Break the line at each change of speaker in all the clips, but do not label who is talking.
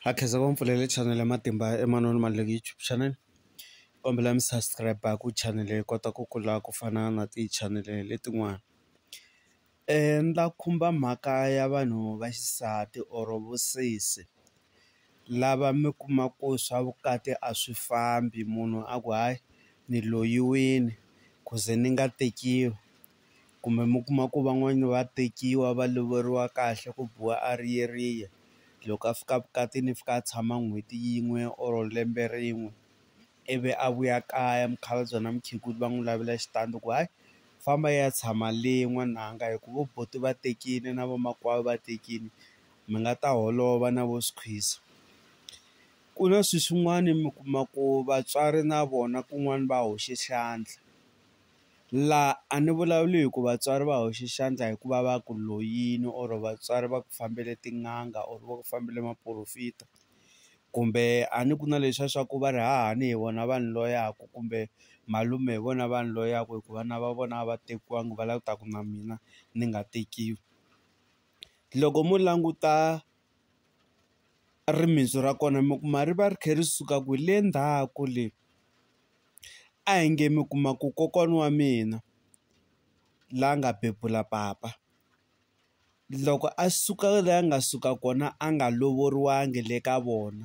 Ha khensa va mpfulele chanel ya matimba Emmanuel Maluleke YouTube channel kombela mi subscribe ku chanel yi kota ku kula ku fana na ti chanel letin'wana ni ta khumba mhaka ya vanhu va xisati or vusesi lava mi kuma ku swa vukati a swi fambi munhu a ku hayi ni loyiwini ku ze ni nga tekiwi kumbe mi kuma ku van'wani va tekiwa va lovoriwa kahle ku biwa a ri yeriya loko a fika vukatini i fika a tshama n'hweti yin'we or lembe rin'we ivi a vuya kaya mukhalabye na mukhegula va n'wi lavela xitandi ku hayi famba i ya tshama le n'wananga hi ku vo buti va tekile na vamakwavo va tekile mi nga ta holova na vo squeeze ku na swi swin'wani mi kuma ku vatswari na vona kun'wani va hoxe xandla. Laha a ni vulavuli hi ku vatswari va hoxe xandla hikuva va ku loyini or vatswari va ku fambele tin'anga or va ku fambile maporofita kumbe a ni ku na leswiya swa ku va ri hahani hi vona vanhu loyaku kumbe malume hi vona vanhu loyaku hi ku vana va vona a va tekiwangi va la ku ta ku na mina ni nga tekiwi loko mo languta rimitsu ra kona mi kuma ri va ri kha ri suka ku le ndzhaku le. A hi nge mi kuma ku kokwana wa mina la nga bebula papa loko a suka la a nga suka kona a nga lovoriwanga le ka vona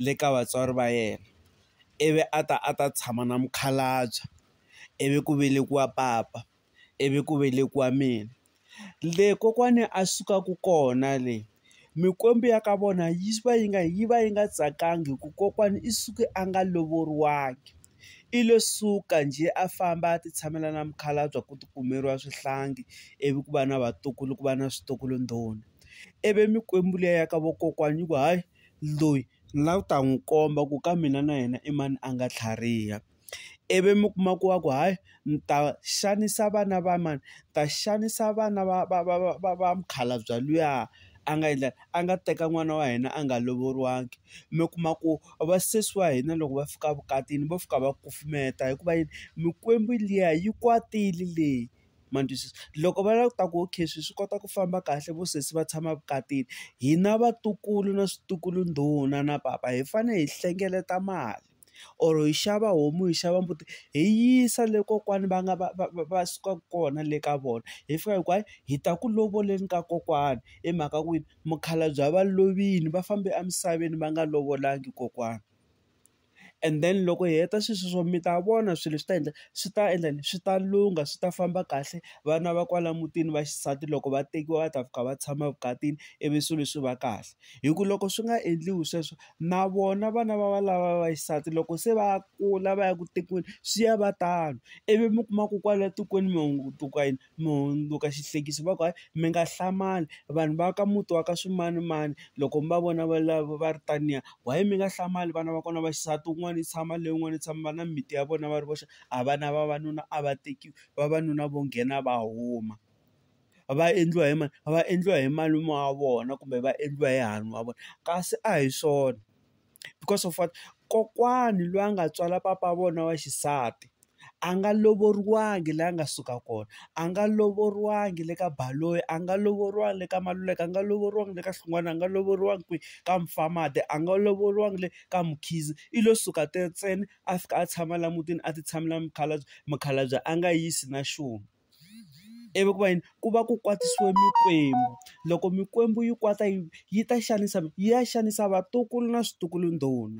le ka vatswari va yena ivi a ta a ta tshama na mukhalabye ivi ku velekiwa papa ivi ku velekiwa mina Le kokwani a sukaka kona le, mikwembu ya ka vona yi va yi nga yi va yi nga tsakanga hikuva kokwana i suke a nga lovoriwangi. I lo suka njhe a famba a ti tshamela na mukhalabye ku ti kumeriwa swihlangi, ivi ku va na vatukulu ku va na switukulu ndhuna. Ivi mikwembu liya ya ka vakokwana yi ku hayi, loyi ni lava ku ta n'wi komba ku ka mina na yena i mani a nga tlhariha. ivi mi kuma ku va ku hayi ni ta xanisa vana va mani ni ta xanisa vana va va va va va va mukhalabye luya a nga endla a nga teka n'wana wa hina a nga lovoriwangi mi kuma ku va sesi wa hina loko va fika evukatini vo fika va kufumeta hikuva yini mikwembu liya yi kwatile leyi ma twisisa loko va lava ku ta ku okay swilo swi kota ku famba kahle vo sesi va tshama evukatini hina vatukulu na switukulu ndhuna na papa hi fanele hi hlengeleta mali. or hi xava homu hi xava mbuti hi yisa le kokwani va nga va va va va sukaka kona le ka vona hi fika hi ku hayi hi ta ku lovoleni ka kokwani hi mhaka ku yini mukhalabye va lovile va fambe emisaveni va nga lovolangi kokwana and then loko hi heta sweswi swo mi ta vona swilo swi ta endla swi ta endla yini swi ta lungha swi ta famba kahle vana va kwala mutini va xisati loko va tekiwa va ta fika va tshama evukatini ivi swilo swi va kahle. hi ku loko swi nga endliwi sweswo na vona vana va valava va xisati loko se va kula va ya ku tekiweni swi ya va tano ivi mi kuma ku kwala tikweni mi hunduka yini mi hundzuka xihlekisa va ku hayi mi nga hlamali vanhu va ka muti wa ka swimanimani loko mi va vona va lava va ri taniya why mi nga hlamali vana va kona va xisati wun'wana yi tshama leyi yin'wana yi tshama va na mimiti ya vona va ri voxe a vana vavanuna a va tekiwi vavanuna vo nghena va huma. va endliwa hi mani va endliwa hi malume wa vona kumbe va endliwa hi hahani wa vona kasi a hi swona because of what kokwani loyi a nga tswala papa wa vona wa xisati a nga lovoriwangi laha a nga suka kona a nga lovoriwangi le ka Baloyi a nga lovoriwangi le ka Maluleke a nga lovoriwangi le ka Hlungwana a nga lovoriwangi kwihi ka Mufamade a nga lovoriwangi le ka Mkhize i lo suka ntsena a fika a tshama laha mutini a ti tshamela mukhalabye mukhalabye a nga yisi na xun'we. ivi ku va yini ku va ku kwatisiwe mikwembu. Loko mikwembu yi kwata yi ta xanisa yi ya xanisa vatukulu na switukulundhani.